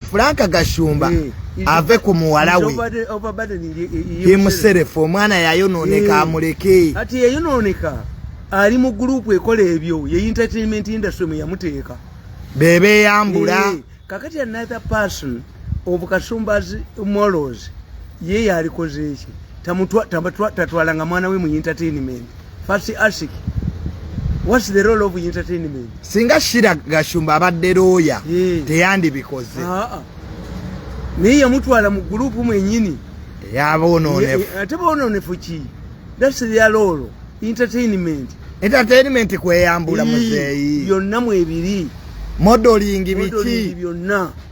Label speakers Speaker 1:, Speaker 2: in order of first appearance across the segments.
Speaker 1: Franka Gashumba eh, ave ku muwala we yemuserefu omwana yayonooneka eh. amuleke ati yeyonooneka
Speaker 2: ali mu gurupu ekola ebyo ye entertainment industry mwe yamuteeka bebeyambula
Speaker 1: eh, kakati another
Speaker 2: person of Kashumba's morals ye yalikoze eki tatwalanga mwana we mu entertainment First ask, what's the role of entertainment? Singa Shira
Speaker 1: Gashumba abadde lawyer, yeah. teyandibikoze. Ah, ah.
Speaker 2: Naye yamutwala mu group mwenyini. Yaboononefu.
Speaker 1: Ate boononefu
Speaker 2: ki? That's their role. Entertainment. Entertainment
Speaker 1: kweyambula muzeeyi. Yonna mwebiri.
Speaker 2: Modeling
Speaker 1: biki? Modeling byonna.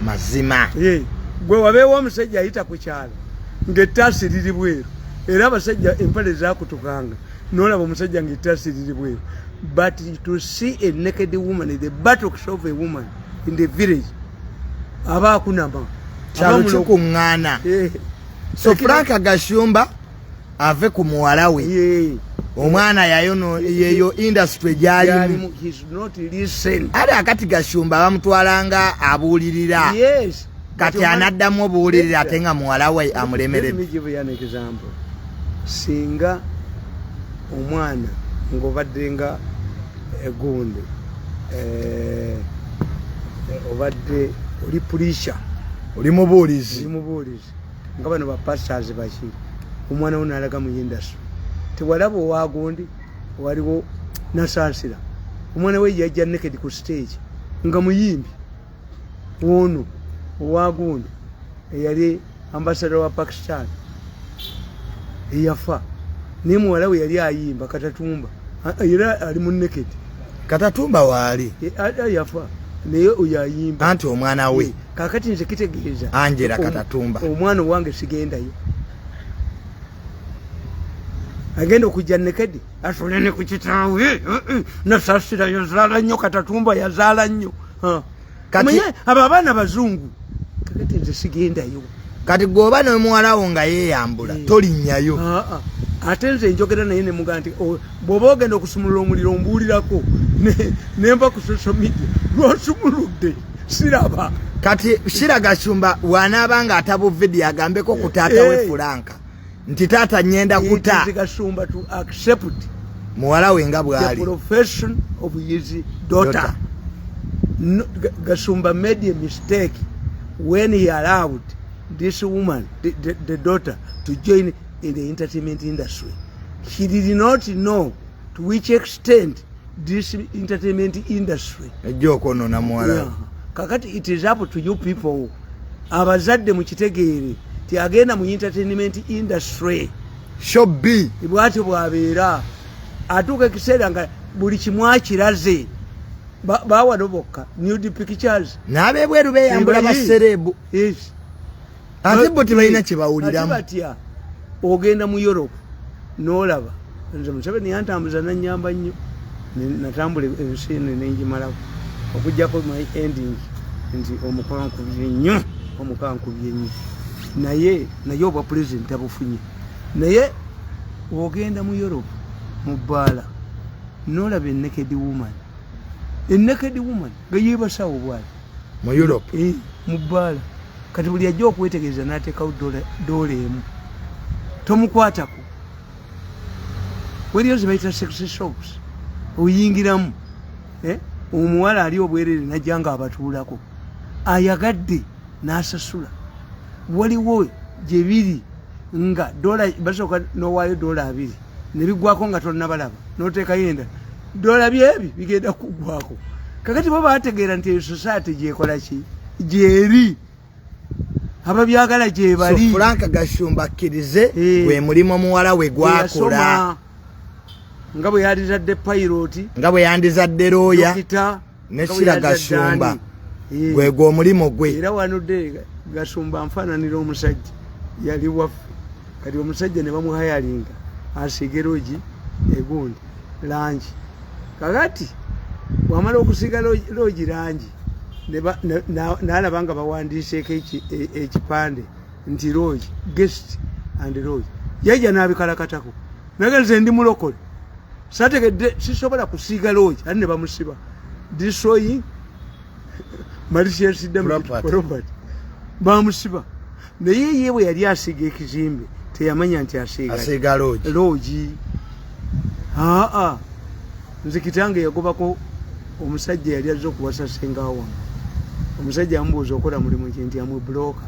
Speaker 2: mazima
Speaker 1: gwe wabeewo
Speaker 2: omusajja ayita ku kyalo ng'ettaasi liri bweru era abasajja empale zakutukanga nolaba omusajja ng'ettaasi liri bweru but to see a naked woman the buttocks of a woman in the village aba akunama kyalo
Speaker 1: kikuŋŋaana eh. so frank gashumba ave ku muwala we omwana yayono yeyo industry gyalimu ali akati gashumba bamutwalanga abuulirira kati anaddamu obuwulirira ate nga muwala we amulemerede
Speaker 2: singa omwana ng'obadde nga egunde eh, eh, obadde oli pulisha oli
Speaker 1: mubuulizi
Speaker 2: nga bano ba pastors baki omwana wo nalaga mu industry tewalaba owagundi waliwo nasansira omwana we yajja naked ku stage nga muyimbi ono owagundi eyali ambasada wa pakistan eyafa naye muwala we yali ayimba katatumba era ali mu naked katatumba
Speaker 1: waali yafa
Speaker 2: naye oyo ayimba anti omwana we
Speaker 1: kakati nze kitegeeza
Speaker 2: angela katatumba
Speaker 1: omwana owange
Speaker 2: sigendayo agenda okujja nekedi atunene ku kitaawe eh, eh, eh. nasasira yazaala nnyo katatumba yazaala nnyo kati abo abaana bazungu kakati nze sigendayo kati gweoba
Speaker 1: nomuwalawo nga yeyambula eh. tolinyayo ah, ah. ate
Speaker 2: nze njogera naye nemuga nti oh, bwoba ogenda okusumulula omuliro ombuulirako nemba ku social media lwasumuludde siraba kati shira
Speaker 1: gashumba wanaaba nga atabu video agambeko ku taata hey. we eh. fulanka nti taata nyenda kuta gashumba to
Speaker 2: accept muwala we
Speaker 1: nga bwali profession
Speaker 2: of his daughter, daughter. No, gashumba made a mistake when he allowed this woman the, the, the daughter to join in the entertainment industry she did not know to which extent this entertainment industry ejja okwonona muwala yeah. kakati it is up to you people abazadde mukitegeere ti agenda mu entertainment industry shob
Speaker 1: bwatyo bwabeera
Speaker 2: atuuka ekiseera nga buli kimu akiraze bawano bokka newdpictures nabebweru beyambula
Speaker 1: baserebu ate bo tebalina kyebawulira batya
Speaker 2: ogenda mu europe nolaba nze museveni yantambuza nanyamba nnyo natambula ensi ene nenjimalako okujjako my ending nti omukankubye nnyo omukankubye nnyo naye naye obwa pulezidenti abufunye naye ogenda mu europe mu bbaala nolaba enekedi woman enekedi woman nga yebasawo bwati mu europe
Speaker 1: eh, mu bbaala
Speaker 2: kati buli ajja okwetegereza n'ateekawo doola emu tomukwatako weriyo zebayita sexy shops oyingiramu eh, omuwala ali obwerere najja nga abatuulako ayagadde n'asasula waliwo gye biri nga dola basooka nowaayo dola abiri ne bigwako nga tonnabalaba n'oteekayo enda doola byebi bigenda kugwako kakati bo bategeera nti eyo society gyekola ki gyeri ababyagala gyebali so frank gashumba
Speaker 1: akkirize eh. gwe mulimu omuwala we gwakola
Speaker 2: nga bwe yandizadde payiroti nga bwe yandizadde
Speaker 1: looya ne kira gashumba
Speaker 2: gwe
Speaker 1: gwo
Speaker 2: mulimo gwe era
Speaker 1: wano de gashumba
Speaker 2: mfana nilo
Speaker 1: musajja
Speaker 2: yali waf kati omusajja ne bamu hayalinga asigeroji egundi lanji kakati wamala okusiga loji lanji nalabanga bawandiiseko e, ekipande nti roy guest and roy yajja nabikalakatako naga nze ndi mulokole sategedde sisobola kusiiga roy ati ne bamusiba destroying malicious damage property bamusiba naye ye bwe yali asiiga ekizimbe teyamanya nti asiiga asiiga loogi loogi aa nze kitange yagobako omusajja yali azze okuwasa senga wange omusajja amubuuza okola mulimu ki nti amwe bulooka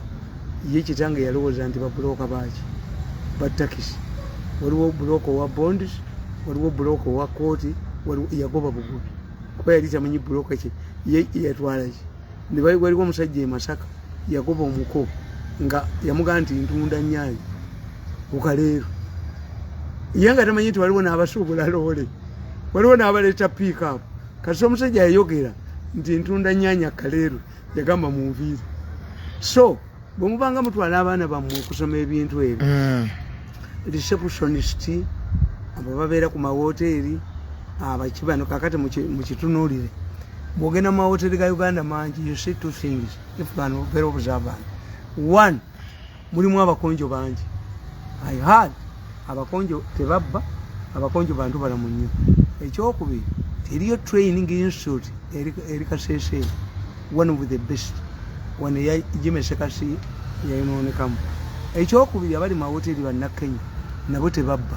Speaker 2: ye kitange yalowooza nti babulooka baaki batakisi waliwo bulooka owa bonds waliwo bulooka owa kooti yagoba bugubi kuba yali tamanyi bulooka ki ye yatwala ki waliwo omusajja e masaka yagoba omuko nga yamugamba nti ntunda nyanyi ukaleero ye nga tamanyi nti waliwo n'abasuubula loole waliwo n'abaleeta piikup kasi omusajja yayogera nti ntunda nyanyi akaleero yagamba munviiri so bwe mubanga mutwala abaana bammwe okusoma ebintu ebyo mm. receptionist abo babeera ku mawoteeri abakibano kakati mukitunuulire bwogenda mu mawoteeri ga uganda mangi you see two things if can very observant one mulimu abakonjo bangi i had abakonjo tebabba abakonjo bantu balamu nnyo ekyokubiri eriyo training institute eri kasese one of the best wano eyajimesekasi yayonoonekamu ekyokubiri abali mawoteri bannakenya nabo tebabba